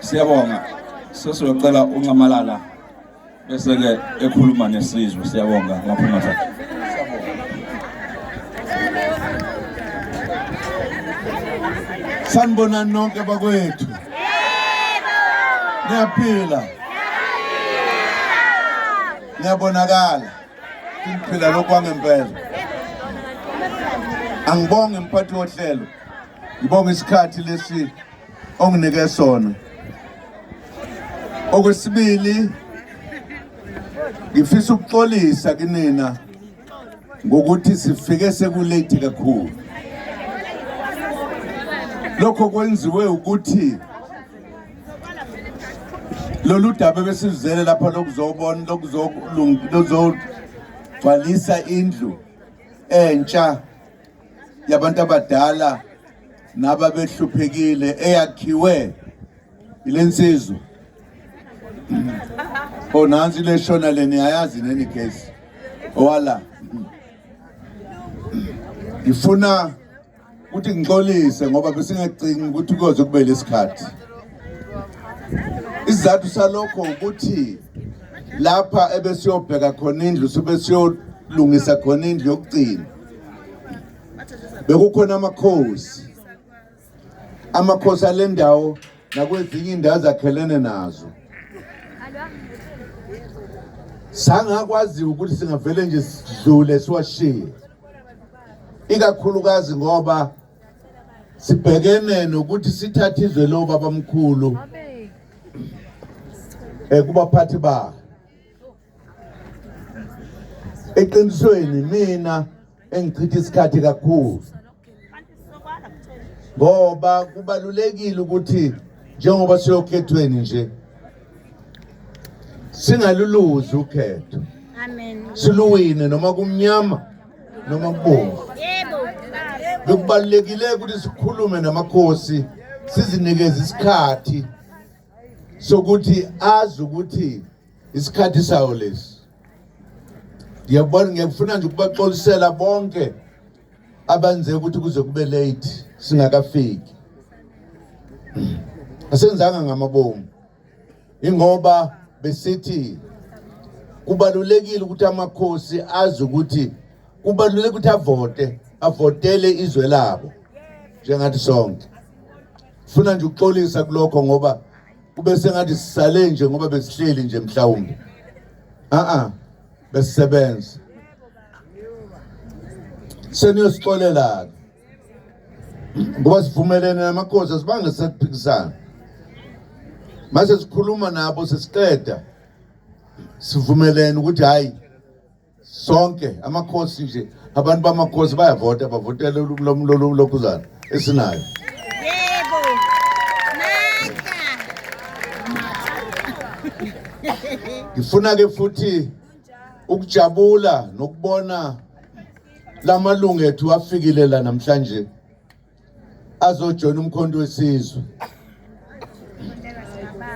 Siyabonga. Sesiyocela uncamalala bese ke ekhuluma nesizwe siyabonga ngaphuma sakhe. Sanibona nonke bakwethu. Yebo. Niyaphila. Niyabonakala. Ngiphila lokwangempela. Angibonge mphathi wohlelo. Ngibonga isikhathi lesi onginike sona okwesibili ngifisa ukuxolisa kinina ngokuthi sifike sekulate kakhulu lokho kwenziwe ukuthi lolu daba besizele lapha lokuzobona lokuzogcwalisa indlu entsha yabantu abadala naba behluphekile eyakhiwe ile nsizwa o oh, nansi le shona le niyayazi neni gesi owala ngifuna ukuthi ngixolise ngoba besingacingi ukuthi kuyoze kube lesikhathi isizathu salokho ukuthi lapha ebesiyobheka khona indlu sube siyolungisa khona indlu yokugcina bekukhona amakhosi amakhosi ale ndawo nakwezinye indawo zakhelene nazo sangakwaziwa ukuthi singavele nje sidlule siwashiye ikakhulukazi ngoba sibhekene nokuthi sithathe izwe lobabamkhulu ekubaphathi eh, ba eqinisweni mina engichitha isikhathi kakhulu ngoba kubalulekile ukuthi njengoba siyokhethweni nje singaluluzi ukhetho siluwine noma kumnyama noma kubomvu bekubalulekile ukuthi sikhulume namakhosi sizinikeze isikhathi sokuthi azi ukuthi isikhathi sawo lesi ndiyabona ngiyakufuna nje ukubaxolisela bonke abenze ukuthi kuze kube late singakafiki asenzanga ngamabomu ingoba besithi kubalulekile ukuthi amakhosi azi ukuthi kubalulekile ukuthi avote avotele izwe labo njengathi sonke funa nje ukuxolisa kulokho ngoba kube sengathi sisale nje ngoba besihleli nje mhlawumbe a-a besisebenza seniyosixolela-ke ngoba sivumelene namakhosi asibange sekuphikisana mase sikhuluma nabo sesiqeda sivumelene ukuthi hhayi sonke amakhosi nje abantu bamakhosi bayavota bavotela lokhuzana esinayo ngifuna ke futhi ukujabula nokubona lamalungu ethu afikile la namhlanje azojoyina umkhonto wesizwe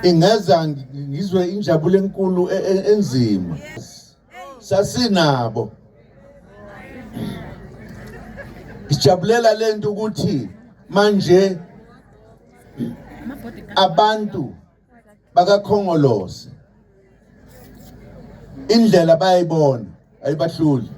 ingeza ngizwe injabulo enkulu e, e, enzima sasinabo sijabulela lento ukuthi manje abantu bakakhongolose indlela bayayibona ayibahluli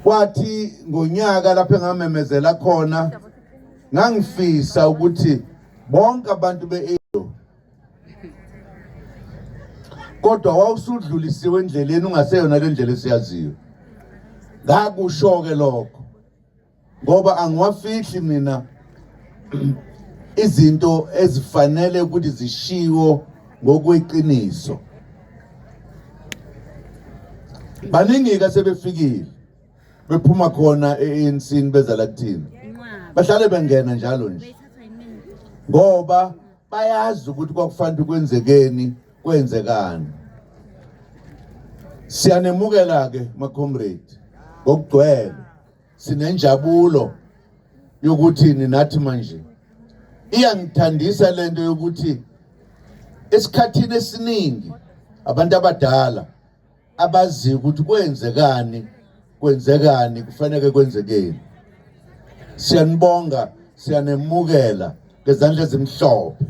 kwathi ngonyaka lapho engamemezela khona ngangifisa ukuthi bonke abantu be-edo kodwa wawusudlulisiwe endleleni ungaseyona le ndlela esiyaziyo ngakusho-ke lokho ngoba angiwafihli mina izinto ezifanele ukuthi zishiwo ngokweqiniso baningi-ke sebefikile bephuma khona e-ancini beza la kuthina bahlale bengena njalo nje ngoba bayazi ukuthi kwakufanele kwenzekeni kwenzekani siyanemukela-ke macomrade ngokugcwele sinenjabulo yokuthi ninathi manje iyangithandisa lento yokuthi esikhathini esiningi abantu abadala abazi ukuthi kwenzekani kwenzekani kufanele kwenzekeni siyanibonga siyanemukela ngezandla ezimhlophe